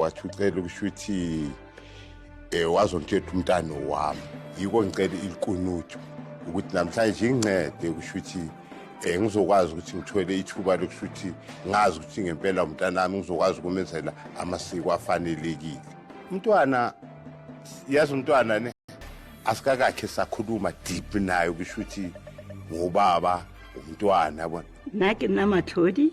wathi ucela ukusho ukuthi um eh, wazontshetha umntana wami yiko ngicela ilikunutsho ukuthi namhlanje ingincede ukusho ukuthi um ngizokwazi ukuthi ngithole ithuba lokusho ukuthi ngazi ukuthi ngempela umntana wami ngizokwazi ukumenzela amasiko afanelekile umntwana yazi umntwana ne asikakakhe sakhuluma deep naye ukusho ukuthi ngubaba umntwana yabona nake namathodi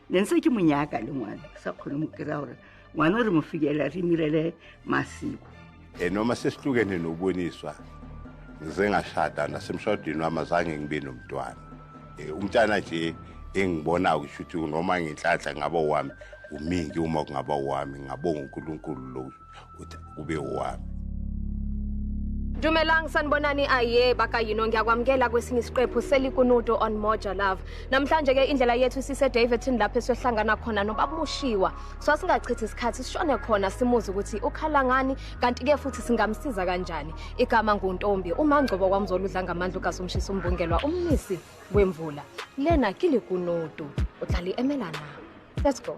ne ntse ke monyaka le ngwana ke sa kgone mo kry-a gore ngwana o re mo fikela re mirele masiko e noma sesihlukene noboniswa ngize ngashada nasemshadweni wami azange ngibe nomntwana e, umntana nje engibonayo kusho ukuthi noma ngenhlanhla ngaba wami umingi uma kungaba wami ngabonga unkulunkulu lowo uthi ube owami Dumelang sanibonani aye baka yino ngiyakwamukela kwesinye isiqephu selikunudo on Moja Love. Namhlanje ke indlela yethu sise Davidton lapho esiyohlangana khona nobabumushiwa. So singachithi isikhathi sishone khona simuze ukuthi ukhala ngani kanti ke futhi singamsiza kanjani. Igama nguNtombi uMangcobo kwamzoludla ngamandla kaSomshisa umbungelwa umnisi wemvula. Lena kilikunudo. Uhlali emelana. Let's go.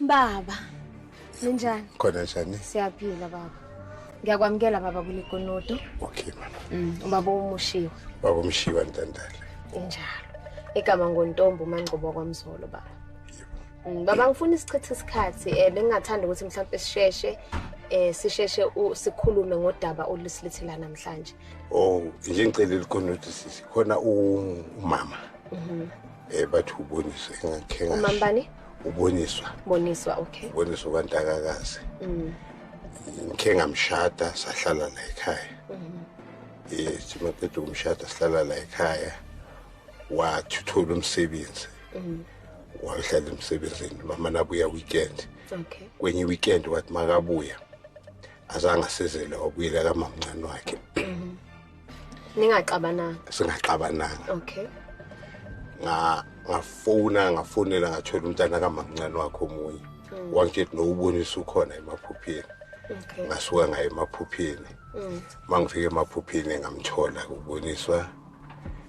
Baba. Ninjani? Khona njani? Siyaphila baba. Ngiyakwamukela baba kulegonodo. Okay mama. Mm, ubaba umushiwa. Baba umushiwa ntandala. Injalo. Igama ngontombo uMangcobo kwaMzolo baba. Mm, baba ngifuna isichithe isikhathi eh bengingathanda ukuthi mhlawumbe sisheshe eh sisheshe sikhulume ngodaba olusilethela namhlanje. Oh, nje ngicela ilikonodo sisi. Khona umama. Mhm. Eh bathi uboniswa engakhe ngasho. Umambani? Uboniswa. Boniswa okay. Uboniswa kwantakakazi. Mm. Ngikhe ngamshada sahlala la ekhaya. Mhm. Eh simaqeda umshada sihlala la ekhaya. Wathuthola umsebenzi. Mhm. Wahlala emsebenzini mama nabuya weekend. Okay. Kwenye weekend wathi makabuya. Azangasizele wabuyela kamamncane wakhe. Mhm. ningaxabananga singaxabananga okay nga ngafona ngafonela ngathola umntana kamamncane wakho omunye mm. wangitshela nowubonisa ukhona emaphupheni okay ngasuka ngaye emaphupheni mm. mangifike emaphupheni ngamthola kuboniswa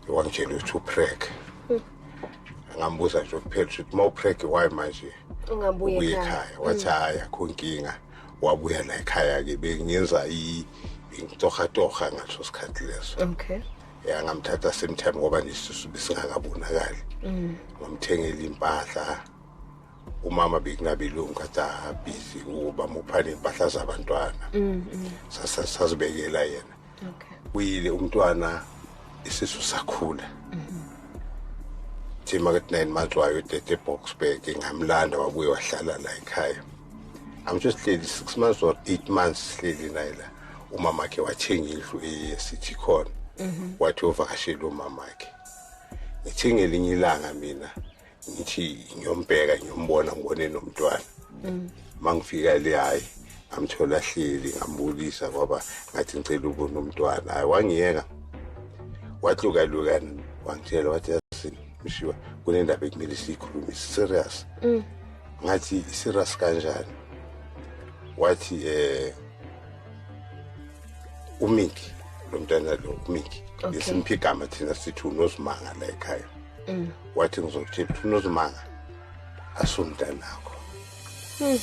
wangitshela ukuthi uprek mm. ngambuza nje kuphela ukuthi uma uprek why manje ungabuye ekhaya wathi mm. hayi akho nkinga wabuya la ekhaya ke bengenza intohatoha ngaso sikhathi leso okay ya ngamthatha same time ngoba nesisu besingakabonakali mm. ngamthengela impahla umama bekunabelungu kathi abhizi uba muphane impahla zabantwana mm, mm. sasibekela yena okay uyile umntwana isisu sakhula mhm. thi makethi nine months wayo udede eboxburg ngamlanda wabuye wahlala la ekhaya angitho sihleli six months or eight months sihleli naye la umama wakhe wathenga indlu esithi khona mhm. wathi uvakashela umama wakhe ngithenga elinye ilanga mina ngithi ngiyombheka ngiyombona ngibone nomntwana mm. mangifika le hayi ngamthola hleli ngambulisa ngoba ngathi ngicela ubona umntwana hayi wangiyeka watlukaluka wangitshela wathi yasini mshiwa kunendaba ekumele siyikhulume serious mm. ngathi serious kanjani wathi eh umiki lo mntana lo umiki lesimphigama thina sithi unozimanga la ekhaya mm. wathi ngizokutshela ukuthi unozimanga asumntanakho mm.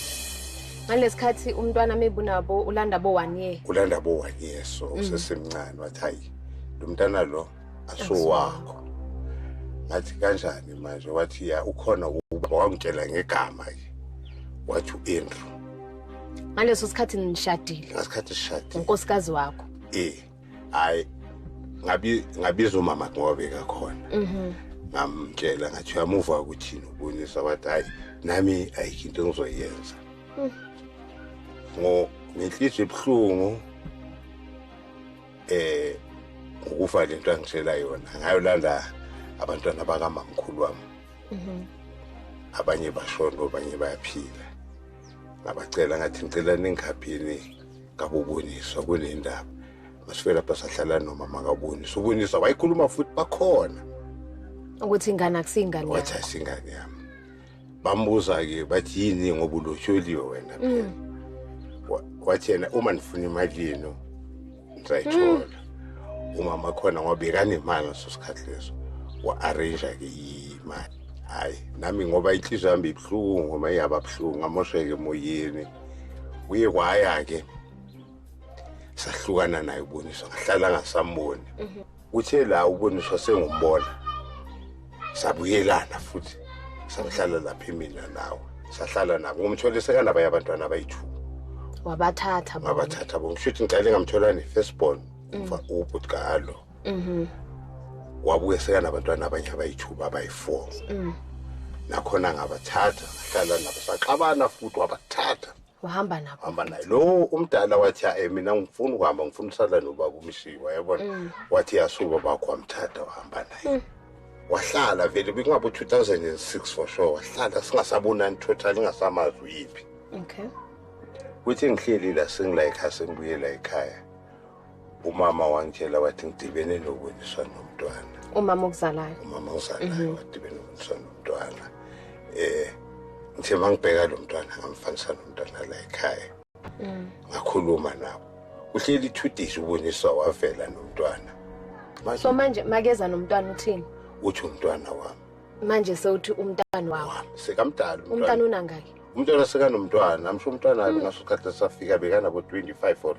ngalesikhathi umntwana mebunabo ulanda bo one year ulanda bo one year so mm. usesemncane wathi hayi lo mntana lo asuwakho ngathi kanjani manje wathi ya ukhona ubaba wangitshela ngegama ke wathi u-andrew ngaleso sikhathi nishadile ngasikhathi sishadile unkosikazi wakho eh hayi ngabi ngabiza umama ngobe kakhona mhm ngamtshela ngathi uyamuva ukuthini ubonisa wathi hayi nami ayikho into engizoyenza mm. ngo ngenhliziyo ebuhlungu eh ukufa lento angitshela yona ngayo landa abantwana bakamamkhulu wami mhm. abanye bashona abanye bayaphila ngabacela ngathi ngicela ningikhaphini kaboboniswa kule ndaba masifike lapha sahlala nomama kabonisa ubonisa wayikhuluma futhi bakhona ukuthi ingane akusiyingane wathi asingane yami bambuza-ke bathi yini ngoba ulosholiwe wena phela mm. wathi yena uma ndifuna imali yenu ndizayithola mm. umama khona ngoba bekanemali ngaso sikhathi leso wa-arrange-ke imali hhayi nami ngoba inhliziyo yami ibuhlungu ngoba iyababuhlungu ngamosheke emoyeni kuye kwaya-ke sahlukana naye uboniswa ngahlala ngasamboni mhm. kuthe la uboniswa sengumbona sabuyelana futhi sahlala lapha mina nawe sahlala nabo ngomthole sekanabanye abantwana abayi-two wabathatha wabathatha bo ngisho ukuthi ngicale ngamtholani first born mhm. ubhuti kalo mhm wabuye seka nabantwana abanye abayithuba abayi-four mm. nakhona ngabathatha ngahlala nabo saxabana futhi wabathatha wahamba nabo hamba naye lo umdala wathi hayi mina ngifuna ukuhamba ngifuna usala nobaba umshiwa yabona mm. wathi yasuka bakho wamthatha wahamba naye mm. wahlala vele bekungabo 2006 for sure wahlala singasabonani total ingasamazi uyiphi okay kuthi ngihleli la sengila ekhaya sengibuyela ekhaya umama wangitshela wathi ngidibene nokuboniswa nomntwana umama okuzalayo umama okuzalayo mhm. wadibene nokuboniswa nomntwana eh ngithe mangibheka lo mntwana ngamfanisa nomntwana la ekhaya mm. ngakhuluma nabo uhleli ithudisi uboniswa wavela nomntwana so manje makeza nomntwana uthini uthi umntwana wami manje sewuthi umntana wawo sekamdala umntana unangaki umntwana sekanomntwana amsho umntwana mm. ngaso sikhathi safika bekanabo 25 or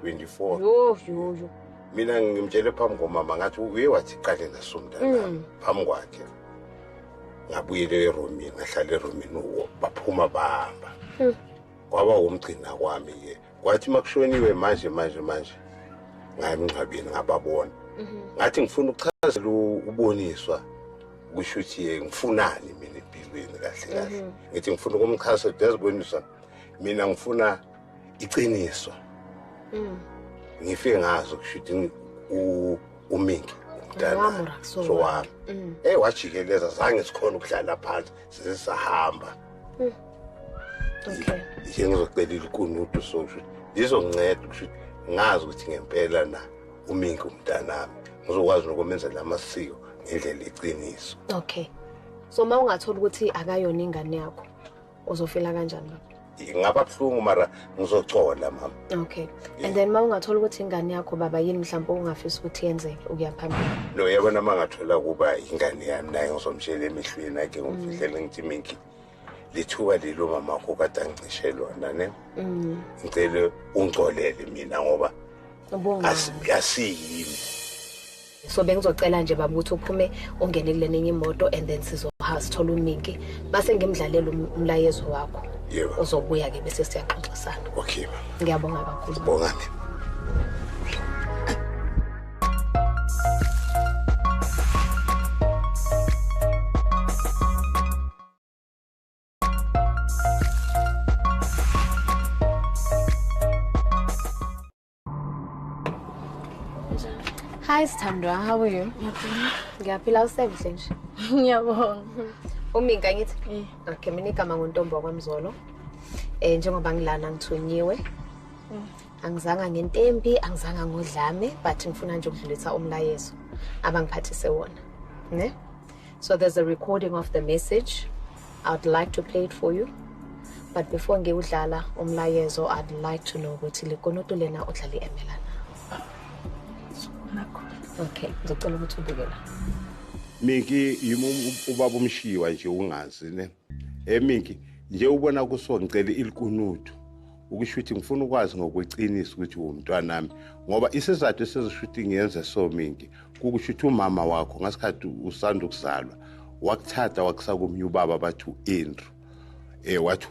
24 yo yo yo mina ngimtshele phambi komama ngathi uye wathi qale naso mntana mm. phambi kwakhe ngabuyele eromini ngahlala eromini uwo baphuma bahamba mm. kwaba wumgcina kwami ke kwathi makushoniwe manje manje manje ngayemngcwabeni ngababona mm-hmm. ngathi ngifuna ukuchazela uboniswa kusho ukuthi ngifunani mina empilweni kahle kahle mm-hmm. ngithi ngifuna ukumchazela ukuthi yaziboniswa mina ngifuna iqiniso mm. ngifike ngazi ukushuthi uminki umntana so wami mm. ey wajikeleza zange sikhona ukuhlala phansi size sahamba mm. okay nje ngizocela ilikunudu so ukuthi lizonceda ukuthi ngazi ukuthi ngempela na uminki umntanami ngizokwazi nokumenzela amasiko ngendlela iqiniso okay so uma ungathola ukuthi akayona ingane yakho uzofila kanjani baba ngaba buhlungu mara ngizocola mama okay and then ma ungathola ukuthi ingane yakho baba yini mhlawumbe ungafisa ukuthi yenzeke ukuya phambili no yabona ma ngathola ukuba ingane yami naye ngizomtshela emehlweni ake ngimfihlele ngithi minki lithuba lelo mama wakho kade angicishe lona ne mm. ngicele ungcolele mina ngoba asiyini so bengizocela nje baba ukuthi uphume ungene kule nenye imoto and then sizoha sithola uningi base ngimdlalela um-, umlayezo wakho yebo uzobuya ke bese siyaxoxisana okay ngiyabonga kakhulu bonga mina Hi Sthandwa, how are you? Ngiyaphila usebenze nje. Ngiyabonga. Uminka ngithi? Eh. Okay, mina igama ngontombi wakwamzolo. Eh njengoba ngilana ngithunyiwe. Mm. Angizanga ngentembi, angizanga ngodlame, but ngifuna nje ukudlulisa umlayezo abangiphathise wona. Ne? So there's a recording of the message. I'd like to play it for you. But before ngiwudlala umlayezo, I'd like to know ukuthi likonoto lena udlala i-emela na. Okay, ngizocela ukuthi ubuke la. Miki yimi ubaba umshiwa nje ungazi ne. emiki nje ubona kuso ngicela ilikunuthu ukusho ukuthi ngifuna ukwazi ngokweqiniso ukuthi wumntwanami ngoba isizathu esizosho ukuthi ngiyenze so mingi kukusho ukuthi umama wakho ngasikhathi usanda ukuzalwa wakuthatha wakusa komnye ubaba bathi u-andrew um wathi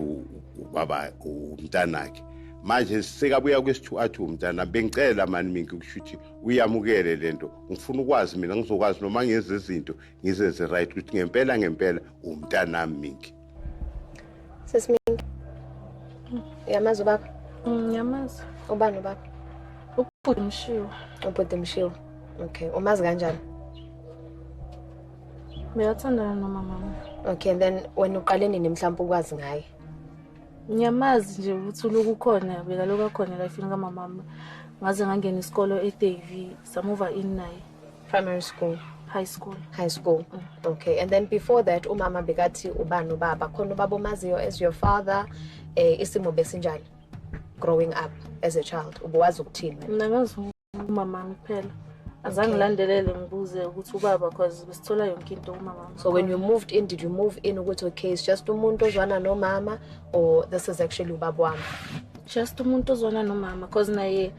ubaba umntanakhe manje sekabuya kwesithu athi umntana bengicela mani mingi ukusho ukuthi uyamukele le nto ngifuna ukwazi mina ngizokwazi noma ngenza izinto ngizenze right ukuthi ngempela ngempela umntanami minki sesiminki uyamazi ubaba mm, ngiyamazi ubani ubaba ubhuti mshiwa ubhuti mshiwa okay umazi kanjani Beyathandana nomama wami. Okay and then wena uqale nini mhlawumbe ukwazi ngaye? Ngiyamazi nje ukuthi uloku ukhona bekaloku akhona la ifini kamama wami. Ngaze ngangena isikolo eDavie samuva in naye. Primary school. High school. High school. Mm. Okay. And then before that umama bekathi ubani ubaba khona ubaba omaziyo as your father eh isimo besinjani growing up as a child ubuwazi ukuthini wena? Mina ngazi umama kuphela. Azange Okay. ngilandelele ngibuze ukuthi ubaba cause besithola yonke into umama. So when you moved in did you move in ukuthi okay it's just umuntu ozwana nomama or this is actually ubaba wami? just umuntu ozwana nomama cause naye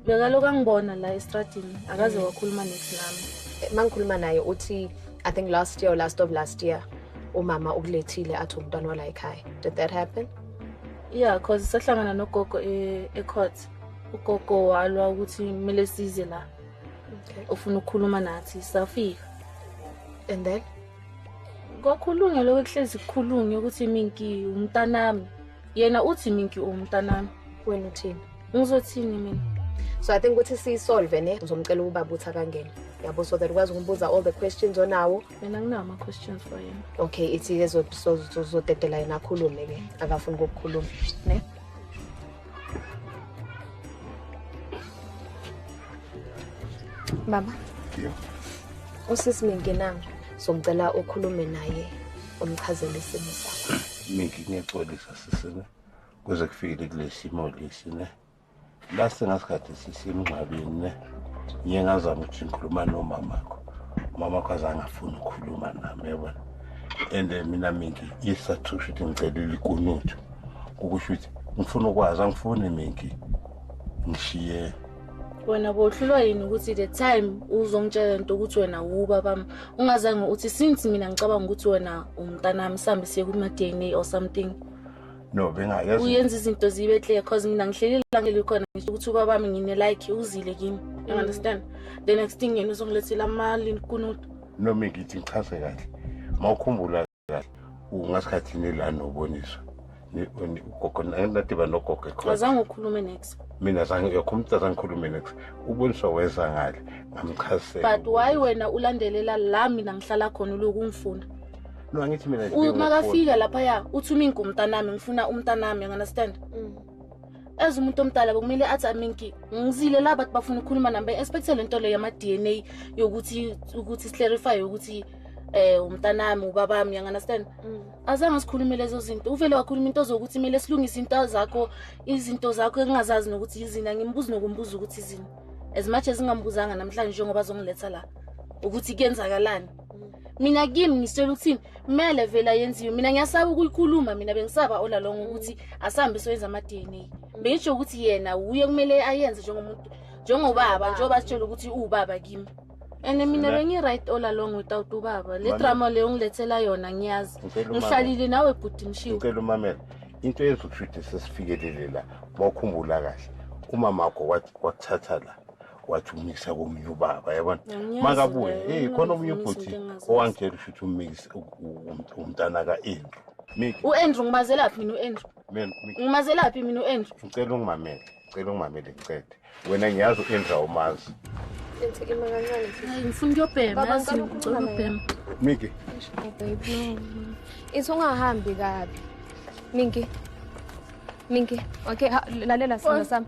bekaloku angibona la estradini akaze mm. wakhuluma nex nami eh, mangikhuluma naye uthi i think last year or last of last year umama ukulethile athi umntwana wala ekhaya did that happen yeah cause sahlangana nogogo e, e-court ugogo walwa ukuthi kumele size la okay. ufuna ukukhuluma nathi safika and then kwakhulunywa lokho kuhlezi kukhulunywa ukuthi minki umntanami yena uthi minki umntanami wena uthini ngizothini mina so i think ukuthi siyisolve ne uzomcela ubaba ukuthi akangene yabo so that ukwazi ukumbuza all the questions onawo mina nginawo ama-questions for yena okay ithi-ke zodedela yena akhulume-ke akafuni kokukhuluma ne baba usisi minginanga so ngicela ukhulume naye umchazele isimo sakho mingi ngiyaxolisa sisine kuze kufikele kulesimo lesi ne la sengasikhathi sisemngcwabeni ne ngiye ngazama ukuthi ngikhuluma nomamakho umamakho azange afuni ukukhuluma nami yabona and eh, mina mingi isathusho ukuthi ngicelile ikunuthu ukusho ukuthi ngifuna ukwazi angifuni mingi ngishiye wena bohlulwa yini ukuthi the time uzongitshela into ukuthi wena wuba bami ungazange uthi since mina ngicabanga ukuthi wena umntanami sihambe siye kuma-dna or something no bengayazi uyenza izinto zibe clear cause mina ngihleli la ngeli khona ngisho ukuthi ubaba wami ngine like uzile kimi you mm. understand the next thing yena uzongilethela amali nikunuta no mina ngithi ngichaze kahle mawukhumbula kahle ungasikhathini la noboniswa ugogo nadiba nogogo ekhona azange ukhulume next mina zange yokho umuntu azangikhulume next uboniswa weza ngale ngamchazisela but why wena ulandelela la mina ngihlala khona uloku ungifuna no angithi mina nje uma kafika lapha ya uthi uminki umntanami ngifuna umntanami you understand mm. as umuntu omdala bekumele athi aminki ngizile la bathi bafuna ukukhuluma nami be-expecte le nto leyo yama-dna yokuthi ukuthi siclarify ukuthi eh umntanami ubabami you understand mm. azange sikhulume lezo zinto uvele wakhuluma into zokuthi kumele silungise into zakho izinto zakho engingazazi nokuthi yizini angimbuzi nokumbuza ukuthi izini as much as ngingambuzanga namhlanje njengoba azongiletha la ukuthi kuyenzakalani mina kimi ngisitshela ukuthini kumele vele ayenziwe mina ngiyasaba ukuyikhuluma mina bengisaba olalongo ukuthi asambe soyenza ama-dna bengisho ukuthi yena wuye kumele ayenze njengomuntu njengobaba njengoba sitshela ukuthi uwubaba kimi and mina bengi-right all along without ubaba le drama leyo ngilethela yona ngiyazi ngihlalile nawe bhuti mshiwcela umamela into eyenza ukushuthi sesifikelele la mawukhumbula kahle umama wakho wakuthatha la wathi umikisa komunye ubaba yabona makabuye hey khona omunye ubhuti owangitshela ushuthi umikisa umntana ka-andrew u-andrew ngimazelaphi mina u-andrew ngimazelaphi mina u-andrew ngicela ungimamele ngicela ungimamele ngicede wena ngiyazi u-andrew awumazi ngifuna ukuyobhema miki ithi ungahambi kabi minki minki okay lalela sona sami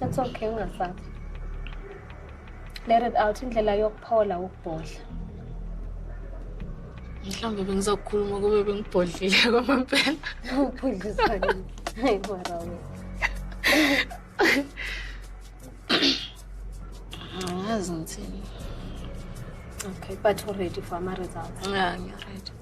It's okay ungasabi. Let it out indlela yokuphola ukubhodla. Mhlawumbe bengizokhuluma kube bengibhodlile kwamampela. Ubhodlisani? Hayi mara wena. Angazi ngithini. Okay, but u-ready for ama-results? Yeah, ngiready.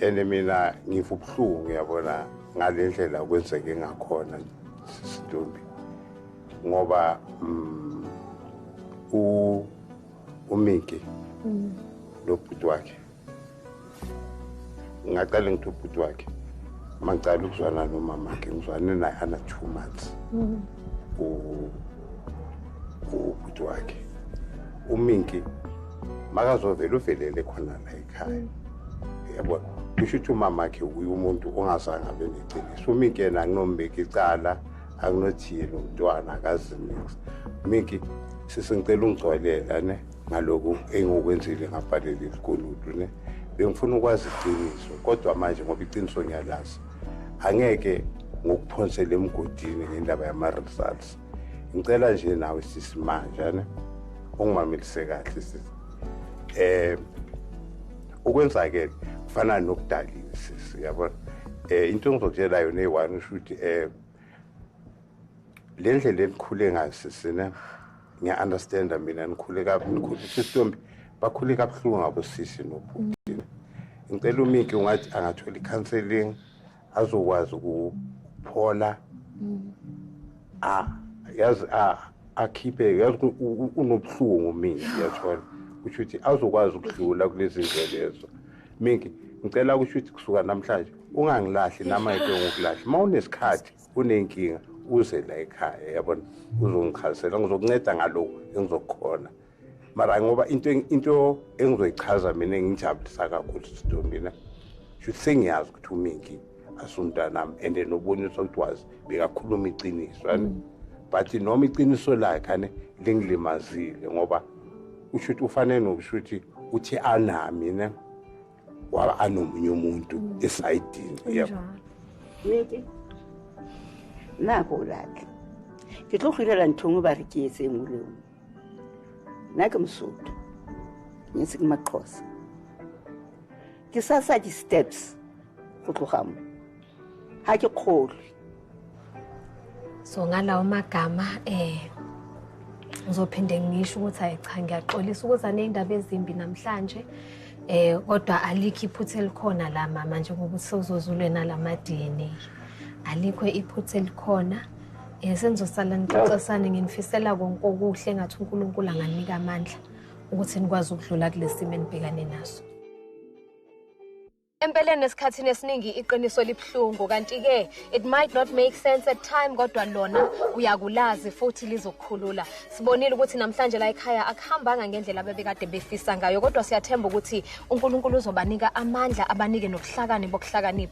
and mina ngiva ubuhlungu yabona ngale ndlela kwenzeke ngakhona sisintombi ngoba mm, u umiki mm. nobhuti wakhe ngaqale ngithi ubhuti wakhe mangicala ukuzwana nomama wakhe ngizwane naye ana two months mm. ubhuti wakhe uminki makazovele uvelele khona la ekhaya yabo kusho ukuthi umama wakhe uye umuntu ongazange abe neqiniso umikena akunombeki icala akunothile umntwana akazinix miki sisengicela ungigcwalela ne ngaloku engikwenzile ngabhalela ilikuludu ne bengifuna ukwazi iqiniso kodwa manje ngoba iqiniso ngiyalazi angeke ngokuphonsela emgodini ngendaba yama-results ngicela nje nawe sisi manje ne ungimamelise kahle sisi eh ukwenzakele kufana nokudaliwe sisi yabona eh into engizokutshela yona eyi-one usho ukuthi eh le ndlela enikhule ngayo sisi ne ngiya-understanda mina nikhule kabi nikhule sisitombi bakhule kabuhlungu ngabosisi nobhuti ngicela umiki ungathi angathola i-counseling azokwazi ukuphola mm. a yazi a akhiphe yazi unobuhlungu mina ngiyathola kusho ukuthi azokwazi ukudlula kulezi ndlelezo mingi ngicela kusho ukuthi kusuka namhlanje ungangilahli nama yike ngokulahla uma unesikhathi unenkinga uze la ekhaya yabona uzongichazisela ngizokunceda ngalokhu engizokukhona mara ngoba into into engizoyichaza mina engijabulisa kakhulu sido mina shuthi sengiyazi ukuthi uminki asumntanami and nobonisa ukuthi wazi bekakhuluma iqiniso ani mm. but noma iqiniso lakhe ane lingilimazile ngoba usho ukuthi ufanele nokusho ukuthi uthi anami ne waba anomunye umuntu mm. esayidini yebo miki nako lake ke tlo go irela nthong o ba re ke etseng o le nake msuthu ngisi kumaxhosa ke sa sa di steps go tloga mo ha ke kgolwe so ngalawo magama eh ngizophinde ngisho ukuthi hayi cha ngiyaxolisa ukuza nezindaba ezimbi namhlanje eh kodwa alikho iphutha elikhona la mama njengoba usozozulwe nalama DNA alikho iphutha elikhona Eh senizosala nixoxisane nginifisela konke okuhle ngathi uNkulunkulu anganika amandla ukuthi nikwazi ukudlula kulesimo enibhekane naso. Empeleni esikhathini esiningi iqiniso libuhlungu kanti ke it might not make sense at time kodwa lona uyakulazi futhi lizokukhulula. Sibonile ukuthi namhlanje la ekhaya akuhambanga ngendlela bebekade befisa ngayo kodwa siyathemba ukuthi uNkulunkulu uzobanika amandla abanike nobuhlakani bokuhlakanipha.